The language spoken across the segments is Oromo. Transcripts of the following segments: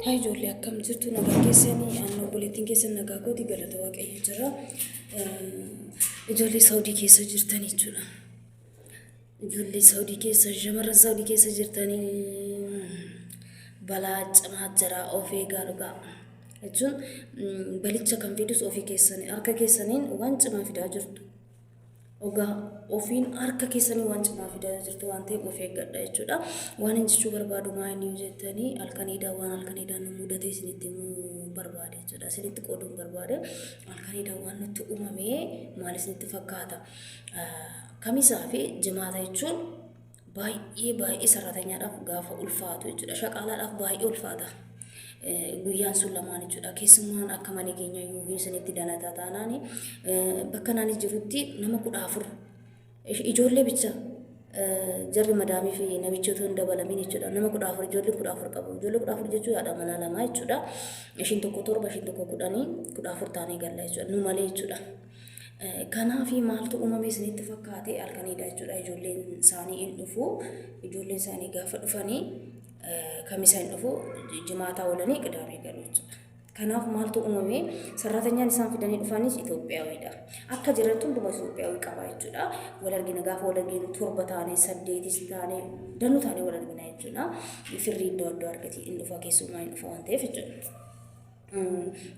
Haa ijoollee akkam jirtu nagaa keessanii aannan obboleettiin keessan nagaa kooti galata waaqayyo jira. Ijoollee Saawudii keessa jirtan jechuudha. Ijoollee Saawudii keessa shamarran Saawudii keessa jirtanii balaa cimaa jira of eegaa dhugaa. Jechuun balicha kan fidus ofii keessanii harka keessaniin waan cimaa fidaa jirtu. Ogaa ofiin harka keessanii waan cimaa fidaa jirtu waan ta'eef of eeggadha jechuudha. Waan hin jechuu barbaadu maa inni jettanii halkan idaa waan halkan idaa nu mudatee isinitti himuu barbaade jechuudha. Isinitti qooduun barbaade halkan idaa waan nutti uumamee maal isinitti fakkaata? Kamisaa fi jimaata jechuun baay'ee baay'ee saraatanyaadhaaf gaafa ulfaatu jechuudha. Shaqaalaadhaaf baay'ee ulfaata. Guyyaan sun lamaan jechuudha. Keessumaan akka mana keenya yoo isinitti dalataa taanaan bakka naanis jirutti nama kudha afur ijoollee bicha jarri madaamii fi namichi otoo hin dabalamiin jechuudha. Nama kudha afur ijoollee kudha afur qabu. Ijoollee kudha afur jechuun haadha manaa lamaa jechuudha. Ishiin tokko torba, ishiin tokko kudhanii kudha afur taanee galla jechuudha. Nu malee jechuudha. Kanaafi maaltu uumame isinitti fakkaate halkaniidha jechuudha ijoolleen isaanii hin dhufu ijoolleen isaanii gaafa dhufanii kamisa hin dhufu jimaataa oolanii qidaamee galu jechuudha. Kanaaf maaltu uumame sarratanyaan isaan fidanii dhufaanis Itoophiyaawiidha. Akka jirantu hunduma Itoophiyaawii qaba jechuudha. Wal argina gaafa wal arginu torba taanee saddeetis taanee danuu taanee wal argina jechuudha. Firri iddoo adda argati hin dhufa keessumaa hin dhufa waan ta'eef jechuudha.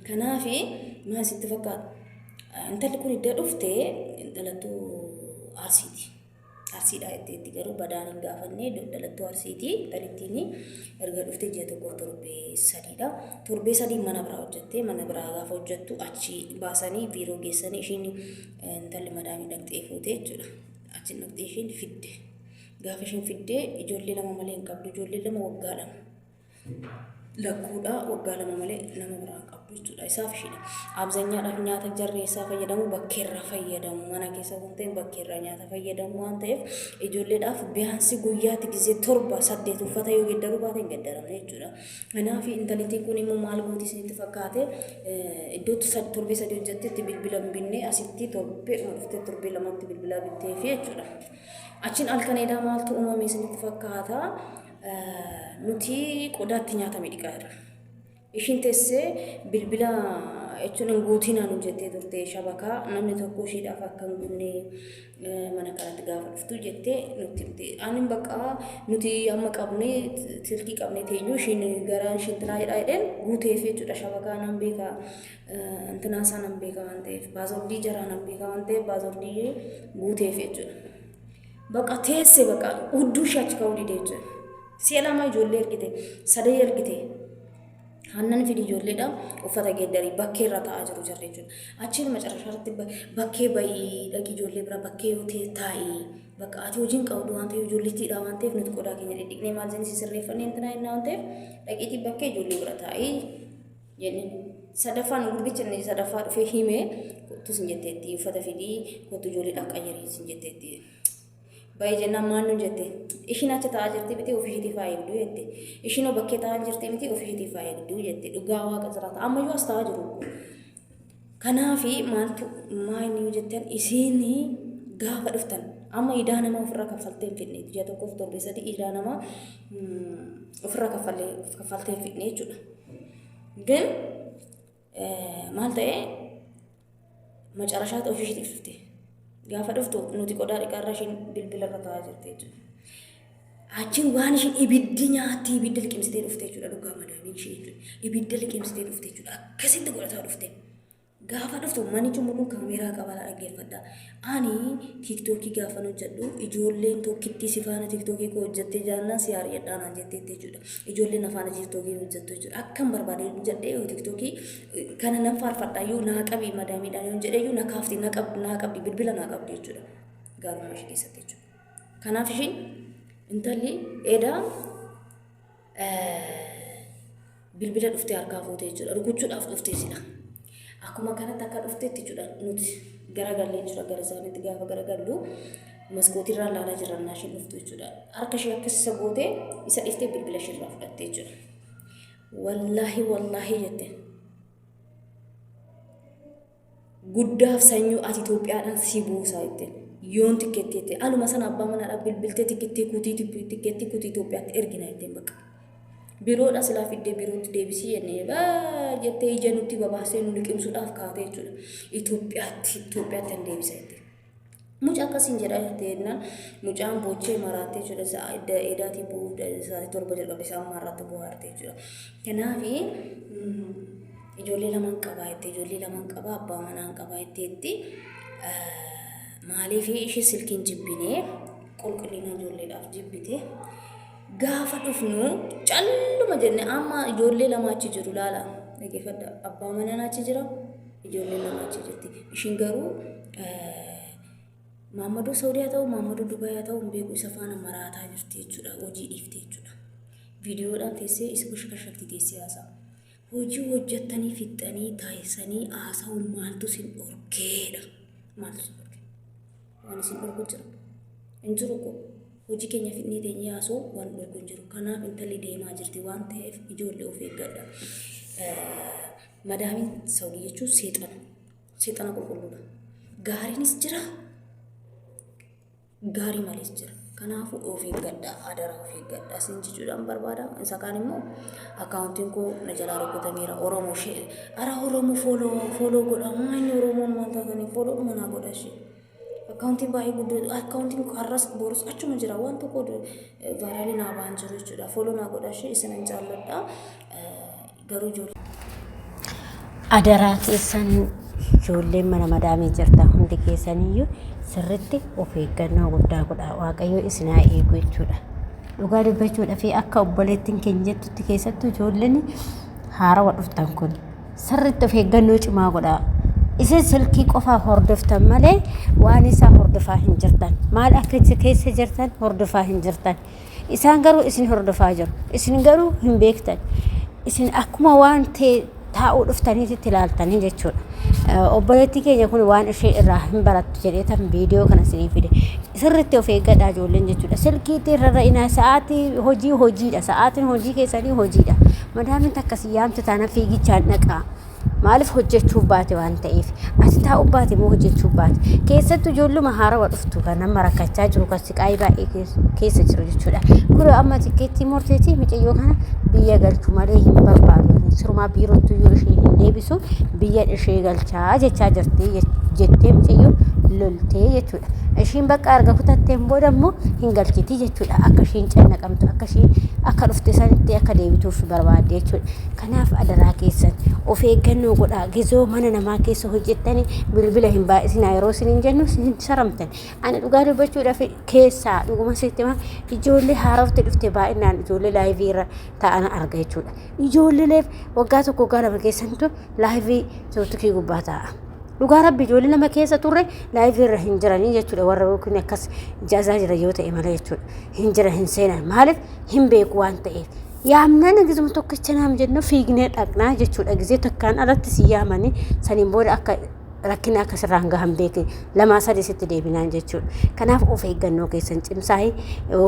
Kanaaf maal sitti fakkaata? Intalli kun iddoo dhufte dhalattuu Arsiiti. Arsiidha jetteetti garuu badaan hin gaafanne dhalattuu Arsiiti. Kan ittiin erga dhufte ji'a tokko torbee sadiidha. Torbee sadii mana biraa hojjettee mana biraa gaafa hojjettu achi baasanii biiroo geessanii ishiin intalli madaamii dhaqxee fuute jechuudha. Achi dhaqxee ishiin fidde. Gaafa ishiin fidde ijoollee lama malee hin qabdu. Ijoollee lama waggaa lama. lakkuudha waggaa lama malee nama biraan qabdu jechuudha isaaf ishiidha abzanyaadhaaf nyaata jarree isaa fayyadamu bakkeerraa fayyadamu mana keessa kan ta'e bakkeerraa nyaata fayyadamu waan ta'eef ijoolleedhaaf biyaansi guyyaatti gizee torba saddeet uffata yoo geddaruu baate hin geddaramne jechuudha kanaaf intalitii kun immoo maal gooti isinitti fakkaate iddootti torbee sadii hojjettetti bilbila hin binne asitti torbee dhuftee torbee lamatti bilbilaa bitteefi jechuudha achiin halkan edaa maaltu uumame isinitti fakkaata Nuti qodaa itti nyaatame dhiqaa jirra. Ishiin teessee bilbila jechuun hin guutinaa nu jettee turte shabakaa namni tokko ishiidhaaf akka hin guunne mana kanatti gaafa dhuftu jettee nutti himte. Ani bakka nuti amma qabne silkii qabne teenyu ishiin garaan ishiin tinaa jedhaa jedheen guuteef jechuudha shabakaa nan beeka intinaa isaa nan beeka waan ta'eef baazordii jaraa nan beeka waan ta'eef baazordii guuteef jechuudha. Baqa teesse baqa hudduu ishee achi ka'uu didee jechuudha. Si'a lama ijoollee ergite, sadee ergite. Hannan fidi ijoolleedha uffata geeddarii bakkee irra taa'aa jiru jirre jechuudha. Achiin macarashaa irratti bakkee bayii dhaqi ijoollee bira bakkee yoo ta'e taa'i. Bakka ati hojiin qabdu waan ta'eef ijoolleettiidha waan ta'eef nuti qodaa keenya dhidhiqnee maal jenni sirreeffannee intinaa innaa waan ta'eef dhaqiitii bakkee ijoollee bira taa'i. Jenni. Sadaffaa nu gurbicha inni sadaffaa dhufee himee kottu sin jetteetti uffata fidii kottu ijoolleedhaan qayyarii sin jetteetti. Baay'ee jennaan maal nu jette ishiin achi taa'aa jirti miti ofiishiitii faa eegduu jette ishiinoo bakkee taa'aa jirti miti ofiishiitii faa eegduu jette dhugaa waaqa jiraata ammayyuu as taa'aa jiru. Kanaafi maaltu maa inni yoo jettan isiin gaafa dhuftan amma idaa namaa ofirra kaffaltee hin fidne ji'a tokkoof torbee sadii idaa namaa ofirra kaffaltee hin fidne jechuudha. Gin maal ta'ee macarashaatti ofishiitiif dhufte. Gaafa dhuftu nuti qodaa dhiqaarra ishiin bilbila irra taa'aa jirti jechuudha. Achiin waan ishiin ibiddi nyaatti ibidda liqimsitee dhufte jechuudha dhugaa madaamiin ishee jechuudha. Ibidda liqimsitee dhufte jechuudha. Akkasitti godhataa dhufte. Gaafa dhuftu manni cumuruun kaameeraa qabaadha dhaggeeffadha. Ani tiiktookii gaafan hojjedhu ijoolleen tokkittii si faana tiiktookii koo hojjettee jaannaan si haari'adhaa naan jettee jechuudha. Ijoolleen na faana tiiktookii hojjettu jechuudha. Akkan barbaade hojjedhee yoo tiiktookii kana nan faarfadha yoo naa qabi madaamiidhaan yoo jedhee yoo na kaafti na qabdi bilbila naa qabdi jechuudha. Gaarummaa ishee keessatti jechuudha. Kanaaf ishiin intalli edaa bilbila dhuftee harkaa fuute jechuudha. Rukuchuudhaaf dhuftee sila. Akkuma kanatti akka dhufteetti jechuudha nuti garagallee jira gara isaaniitti gaafa garagallu maskootiirraa laalaa jirra naa isheen dhuftu jechuudha. Harka ishee akkas isa gootee isa dhiftee bilbila isheerraa fudhattee jechuudha. Wallaahi wallaahi jette. guddaaf sanyuu ati Itoophiyaadhaan si buusaa ittiin yoon tikkeetti jettee aluma sana abbaa manaadhaaf bilbiltee tikkeetti kutii tikkeetti kutii Itoophiyaatti ergina ittiin bakka biroodha silaa fiddee birootti deebisii jennee baa jettee ija nutti babaasee nu liqimsuudhaaf kaatee jechuudha Itoophiyaatti Itoophiyaatti hin deebisa ittiin. Muca akkasiin jedhaa jirti jennaan mucaan boochee maraattee jechuudha sa'a edda eedaatii bu'uu sa'aatii torba jalqabe sa'a ammaa irratti bu'aarte jechuudha. Kanaaf ijoollee lamaan qabaa jetti ijoollee lamaan qabaa abbaa manaan qabaa jetti jetti maaliif ishee silkiin jibbinee qulqullina ijoolleedhaaf jibbite gaafa dhufnu calluma jenne amma ijoollee lama achi jiru laala dhaggeeffadha abbaa manaan achi jira Ijoolleen lama achi jirti. Ishiin garuu Maammadoo Saawudii haa ta'u Maammadoo Dubaay haa ta'u hin beeku isa faana maraataa jirti jechuudha. Hojii dhiifte jechuudha. Viidiyoodhaan teessee isa bashkashakti teessee haasa'a. Hojii hojjettanii fixxanii taasisanii haasa'u maaltu sin dhorkeedha. Maaltu sin dhorke? Waan isin dhorku jira. Hin jiru koo. Hojii keenya fixnee teenyee haasoo waan dhorku hin jiru. Kanaaf intalli deemaa jirti waan ta'eef ijoollee of eeggadha. Madaamiin sawdii jechuun seexana. Seexana qulqulluudha. Gaariinis jira, gaarii malees jira. Kanaafuu of eeggadha, adaraa of eeggadha. Isin jechuudhaan barbaada. Isa kaan immoo akkaawuntiin koo na jalaa rukkutameera. Oromoo ishee. Ara Oromoo fooloo fooloo godha. Maa inni Oromoon wanta kana fooloo dhuma naa godha ishee. Akkaawuntiin baay'ee guddoo akkaawuntiin har'as borus achuma jira waan tokko vaaraalii naa ba'an jiru jechuudha. Fooloo naa godha ishee isin hin jaalladha garuu ijoollee. Adaraa keessan ijoolleen mana madaamii jirta hundi keessaniyyuu sirritti of eeggannoo guddaa godha waaqayyo isin haa eegu jechuudha. Dhugaa dubbachuudhaaf akka obboleettiin keenya jettutti keessattuu ijoolleen haarawa dhuftan kun Sirriitti of eeggannoo cimaa godhaa. Isin silkii qofaa hordoftan malee waan isaa hordofaa hin jirtan. Maal akka isa keessa jirtan hordofaa hin jirtan. Isaan garuu isin hordofaa jiru. Isin garuu hin beektan. Isin akkuma waan ta'e taa'uu dhuftaniitti itti ilaaltanii jechuudha. Eh, Obboleettii keenya kun waan ishee irraa hin barattu jedheetan viidiyoo kana isinii fide. Sirritti of eeggadhaa ijoolleen jechuudha. Silkiitti irra ra'inaa sa'aatii hojii hojiidha. Sa'aatiin hojii keessanii hojiidha. Madaamiin takka si yaamte taana fiigichaan dhaqaa. Maaliif hojjechuuf baate waan ta'eef? Ati taa'u baate moo hojjechuuf baate? Keessattuu ijoolluma haarawa dhuftu kan nama rakkachaa jiru kan siqaayii baay'ee kees- keessa jiru jechuudha. Kun amma tikkeettii murteetii micayyoo kana biyya galchu malee hin barbaadu. Sirumaa biirottuu yoo ishee hin deebisu biyya ishee galchaa jechaa jirti jech- jettee micayyoo loltee jechuudha. Ishiin bakka erga kutatteen booda immoo hin galchiti jechuudha. Akka ishiin cannaqamtu, akka ishiin akka dhufte sanitti akka deebituuf barbaadde jechuudha. Kanaaf adaraa keessan of eeggannoo godhaa. Gizoo mana namaa keessa hojjettanii bilbila hin baay'isinaa yeroo isin hin jennu isin hin saramtan. Ani dhugaa dubbachuudhaaf keessaa dhuguma sitti himaa ijoollee haarofti dhufte baay'inaan ijoollee laayivii irra taa'an arga jechuudha. Ijoolleeleef waggaa tokko waggaa lama keessantu laayivii tiiktookii gubbaa taa'a. Dhugaa rabbi ijoollee nama keessa turre laayivii irra hin jiranii jechuudha warra yookiin akkas jaazaa jira yoo ta'e malee jechuudha. Hin jira hin seenan maaliif hin beeku waan ta'eef. Yaamnaan akkasuma tokkicha naam jennu fiignee dhaqnaa jechuudha gisee takkaan alatti si yaamanii saniin booda akka rakkina akka sirraan gahan beekne lamaa sadii sitti deebinaan jechuudha. Kanaaf of eeggannoo keessan cimsaa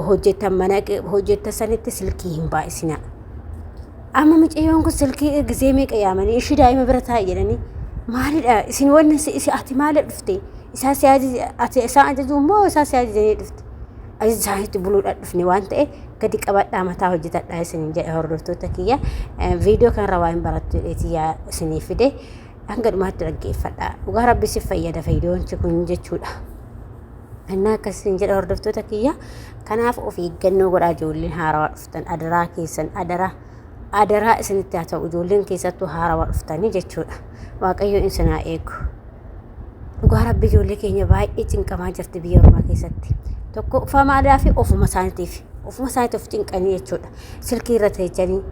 hojjetan mana hojjetan sanitti silkii hin baay'isinaa. Amma mucayyoon kun silkii ergisee meeqa yaamanii ishii daa'ima bira taa'i jedhanii maalidha isin wanni si- isi ati maala dhufte isaa si ajaje ati isaan ajajuu immoo isaa si ajajanii dhufte ajaja isaaniitti buluudhaan dhufne waan ta'e gadi qabadhaa mataa hojjetadhaa isiniin jedhe hordoftoota kiyya Eh, viidiyoo kanarra waa hin barattu jedheeti yaa isinii fide hanga dhumaatti dhaggeeffadhaa dhugaa rabbi si fayyada fayyidoonchi kun jechuudha. Annaa akkasiin jedha hordoftoota kiyya. Kanaaf of eeggannoo godhaa ijoolleen haarawaa dhufu. dhuftan adaraa keessan adaraa adaraa isinitti haa ta'u ijoolleen keessattuu haarawaa dhuftanii jechuudha waaqayyo isin haa eegu dhugaa rabbi ijoollee keenya baay'ee cinqamaa jirti biyya ormaa keessatti tokko ufamaadaa fi ofuma isaaniitiif ofuma isaaniitiif of cinqanii jechuudha silkii irra teechanii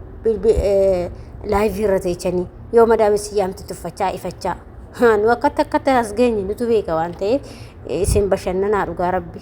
laayivii irra teechanii yoo madaamessi yaamti tuffachaa ifachaa nu akkatti akkatti as geenye nutu beeka waan ta'eef isin bashannanaa dhugaa rabbi